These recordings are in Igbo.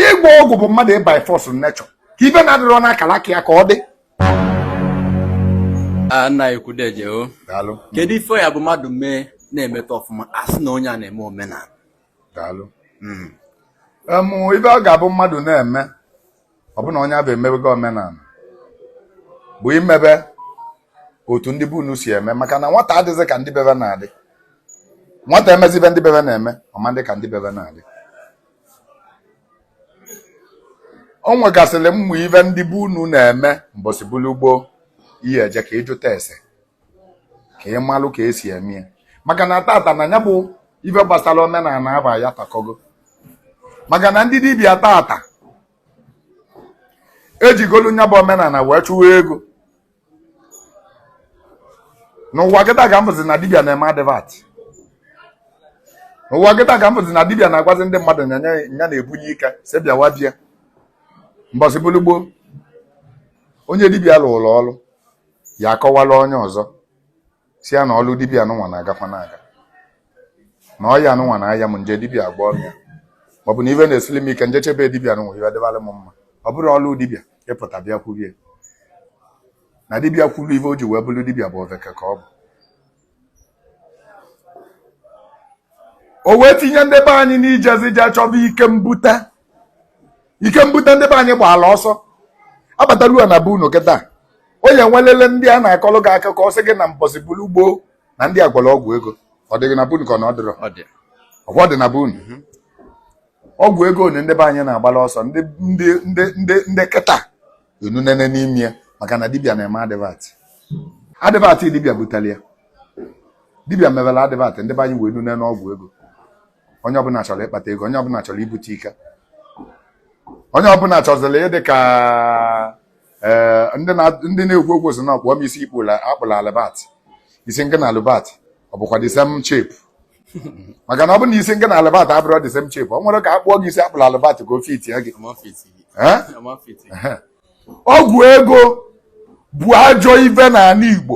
ịgwọ ọgwụ bụ mmadụ ị by force nature ka ive na-adịrọ n'akara aka ya ka ọ dị nna ekwudeje o kedu ife ya bụ mmadụ mee na-emeta ọfụma a sị na onye a na-eme omenala daalụ hmm. ive ọ ga-abụ mmadụ na-eme ọ bụ na onye avụ emebego omenala bụ imebe otu ndị be unu si eme maka na nwata adịghị ka ndị bebe na-adị nwata emezi ive ndị bebe na-eme ọ ma-adị ka ndị bebe na-adị o nwegasịrị ụmụ ive ndị be unu na-eme mbọsị bụrụ gboo ị ya-eje ka ị jụta ese ka ị malụ ka esi eme ya maka na tata na ya bụ ife gbasara omenala aba ya takọgo maka na ndị dibịa tata ejigolu nya bụ omenala wee chụwa ego n'ụwa kịta ka m vụzi na dibia na-eme advert n'ụwa kịta ka m vụzi na dibia na-agwazi ndị mmadụ na ya na-ebunye ike sị bịawa bịa mbọsị bụrụ gboo onye dibia lụrụ ọrụ ya akọwala onye ọzọ sị ya na ọlụ dibịa anụnwa na-agakwa na-aga na ọya anụnwa na-aya m nje dibịa a gwọrọ ya maọbụ na ive na-esili m ike njeche be dibịa anụnwa ive dịbara m mma ọ bụrọ ọlụ dibịa ịpụta bịa kwurie na dibịa kwuru ive o ji wee bụrụ dibịa bụ oveke ka ọ bụ o wee tinye ndị be anyị n'ijezi je chọba ike mbute ike mbute ndị be anyị gbaala ọsọ abataruo na be unu kịta onye nwelele ndị a na-akọlụ gị akụkọ sị gị na mbọsị bulu gboo na ndị a gwọrọ ọgwụ ego ọ dịghị na be unu ka ọ na ọ dịrọ ọgwụ dị na be unu mhm. ọgwụ ego onye ndị be anyị na-agbala ọsọ ndị kịta enunene n'ime ya maka na dibia na-eme advert advert dibia butere ya dibia mewere advert ndị be anyị wee nune n'ọgwụ ego onye ọbụla chọrọ ịkpata ego onye ọbụla chọrọ ibute ike onye ọbụla chọziri ịdị ka eh, ndị na-ekwu okwu sị na a kpụọ m isi a kpụlụ Albert isi ngị na Albert ọ bụkwa the same shape maka na ọ bụ na isi ngị na Albert abụrọ the same shape o nwerọ ka a kpụọ gị isi a kpụlụ Albert ka o fitie gị eh? ọgwụ ego bụ ajọ ive n'ala Igbo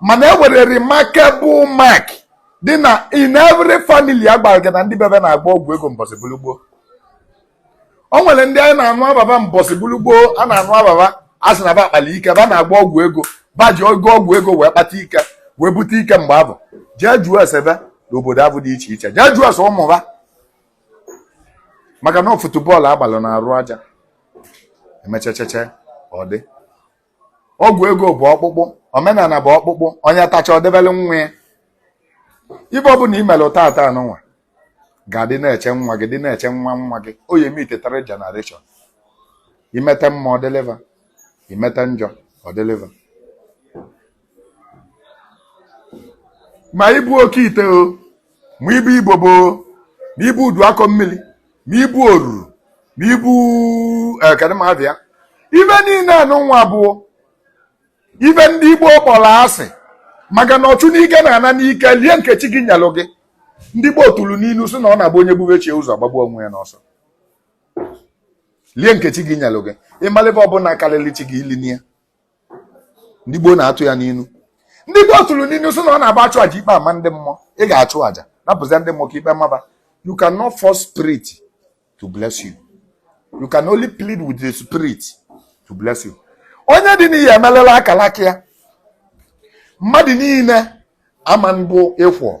mana e nwere remarkable mark dị na in every family a gwara gị na ndị bebe na-agwọ ọgwụ ego mbọsị bulu gboo o nwere ndị anyị na-anụ ava ba mbọsị bulu gboo a na-anụ ava ba a sị na ba kpalụ ike ba na-agwọ ọgwụ ego ba ji ogo ọgwụ ego wee kpata ike wee bute ike mgbe avụ jee jụọ ese ba n'obodo avụ dị iche iche jee jụọ ese ụmụ ba maka na ọ football a gbalụ n'arụ aja e mechachacha ọ dị ọgwụ ego bụ ọkpụkpụ omenana bụ ọkpụkpụ onye tacha o debele nwa ya ive ọbụna i mere tata anụnwa ga-adị na-eche nwa gị dị na-eche nwa nwa gị ọ ive metụtara generation i mete mma ọ dịlị va i mete njọ ọ dịlị va ma ibu oke ite o ma ibu ibobo ma ibu udu akọ mmiri ma ibu oruru ma ibu eh, kedụ ma avịa ive niine anụnwa bụ ive ndị igbo kpọrọ asị maka na ọchụ n'ike na-ana n'ike lie nke chi gị nyelụ gị ndị gboo tụrụ n'inu sị na ọ na-abụ onye bube chi e ụzọ ọ gbagbuo onwe ya n'ọsọ lie nke chi gị nyelụ gị ị malụ ive ọbụna karịrị chi gị ili ya ndị gboo na-atụ ya n'inu ndị gboo tụrụ n'inu sị na ọ na-abụ a chụọ aja ikpe ama ndị mmụọ ị ga-achụ aja napụzia ndị mmụọ ka ikpe ma va you cannot force spirit to bless you you can only plead with the spirit to bless you onye dị n'ihe emelela akalaka ya mmadụ niile ama mbụ ịkwọ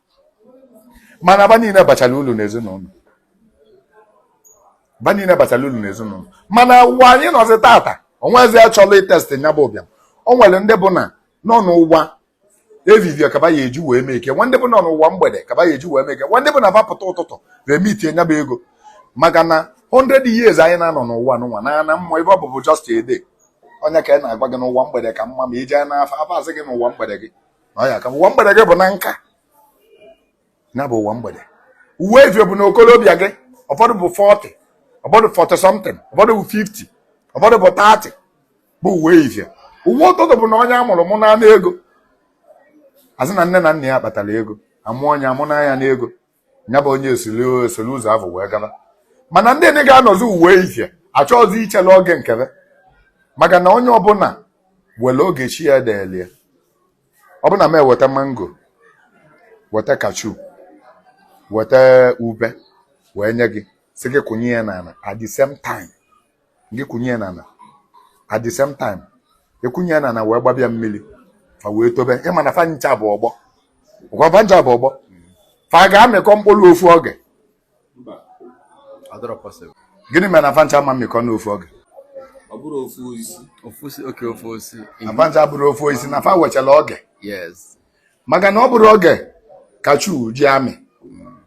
mana va niile bachara ulu n'ezinụlọ va niile bachara ulu n'ezinụlọ mana ụwa anyị nọzi tata onwezi achọlụ itest nya bụ ụbịam o nwere ndị bụ na ọ n'ụwa evivie ka va ya-eji wee mee ike nwee ndị bụ na ọ n'ụwa mgbede ka va ya-eji wee mee ike nwee ndị bụ na va pụta ụtụtụ remiti nya bụ ego maka na 100 years anyị na-anọ n'ụwa n'ụwa na ana mmụọ ive ọ bụ bụ just a day ọ nya ka a na-agwa gị na ụwa mgbede ka mma ma i je n'afa afa asị gị na ụwa mgbede gị ọ ya ka ụwa mgbede gị bụ na nka ya bụ ụwa mgbede ụwa evie bụ na okolobịa gị ụfọdụ bụ 40 ụfọdụ 40 something ụfọdụ bụ 50 ụfọdụ bụ 30 bụ ụwa evie ụwa ụtụtụ bụ na onye a mụrụ mụnye n'ego azị na nne na nna ya kpatara ego a mụọ onye a mụnye ya n'ego nya bụ onye esili esili ụzọ avụ wee gaba mana ndị ndị ga-anọzi ụwa evie achọghịzi ichela oge nke va maka na onye ọbụna were oge chi ya deeli e ọ bụ na m weta mango weta cashew weta ube wee nye gị sị gị kụnye ya n'ana at the same time gị kụnye ya n'ana at the same time a kụnye ya n'ana wee gbaba ya mmili fa wee tobe ị ma na fa ncha bụ ọgbọ ọ kwa fa ncha bụ ọgbọ fa ga-amịkọ mkpụrụ ofu oge gịnị mere na fa ncha ama amịkọ n'ofu oge na fa ncha abụrọ ofu osisi na fa wechara oge maka na ọ bụrọ oge cashew ji amị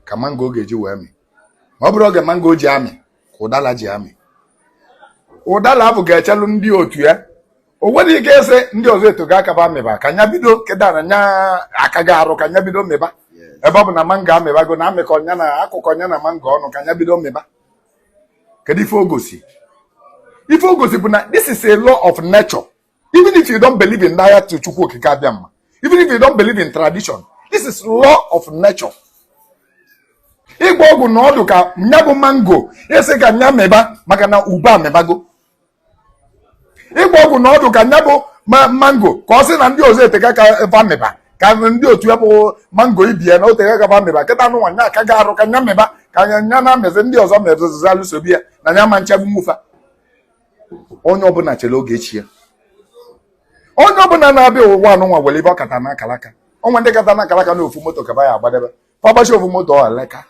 ka mango ga-eji wee mị ma ọ bụrọ oge mango ji amị ka ụdala ji amị ụdala avụ ga-echelụ ndị otu ya o nwerọ ike ịsị ndị ọzọ etego aka ba mịba ka nya bido kịta na nya akago arụ ka nya bido mịba ebe ọ bụ na mango amịbago na amịkọ nya na a kụkọ nya na mango ọnụ ka nya bido mịba kedu ife o gosi ife o gosi bụ na this is a law of nature even if you don't believe in that chukwu okike abịama even if you don't believe in tradition this is law of nature ịgba ọgwụ na ọdụ ka nya bụ mango asị ka nya mịba maka na ube amịbago ịgba ọgwụ na ọdụ ka nya bụ mango ka ọ sị na ndị ọzọ eteka ka va mịba ka ndị otu ya bụ mango ibe ya na o teka ka va mịba kịta anụnwa nya akago arụ ka nya mịba ka nya na-amịzi ndị ọzọ mezozizalụ sobe ya na nya ma nchebụ nwufa onye ọbụla chere oge chi ya onye ọbụla na-abịa ụwa anụnwa nwere ife ọ kata na akalaka o nwe ndị kata na akalaka na ofu moto ka ba ya-agbadebe ba gbachaa ofu moto ọleka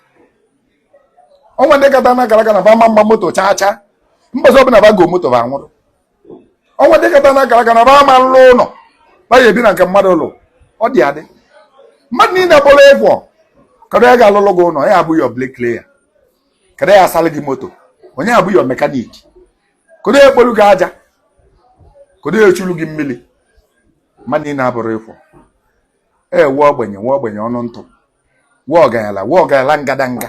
o nwe ndị kata na akalaka na ba ma mma moto chaa chaa mbọsị ọbụla ba go moto ba nwụrụ o nwe ndị kata na akalaka na ba ma nlụ ụlọ ba ya-ebi na nke mmadụ ụlọ ọ dị adị mmadụ niile bụrụ equal kedu onye ga-alụlụ gị ụlọ ya abụ your bricklayer kedu ya asalụ gị moto onye ya-abụ your mekaniki kedu ya ekpolu gị aja kedu ya echulu gị mmili mmadụ niine abụrụ equal e nwee ogbenye nwee ogbenye ọnụ ntụ nwee ọganyala nwee ọganyala ngadanga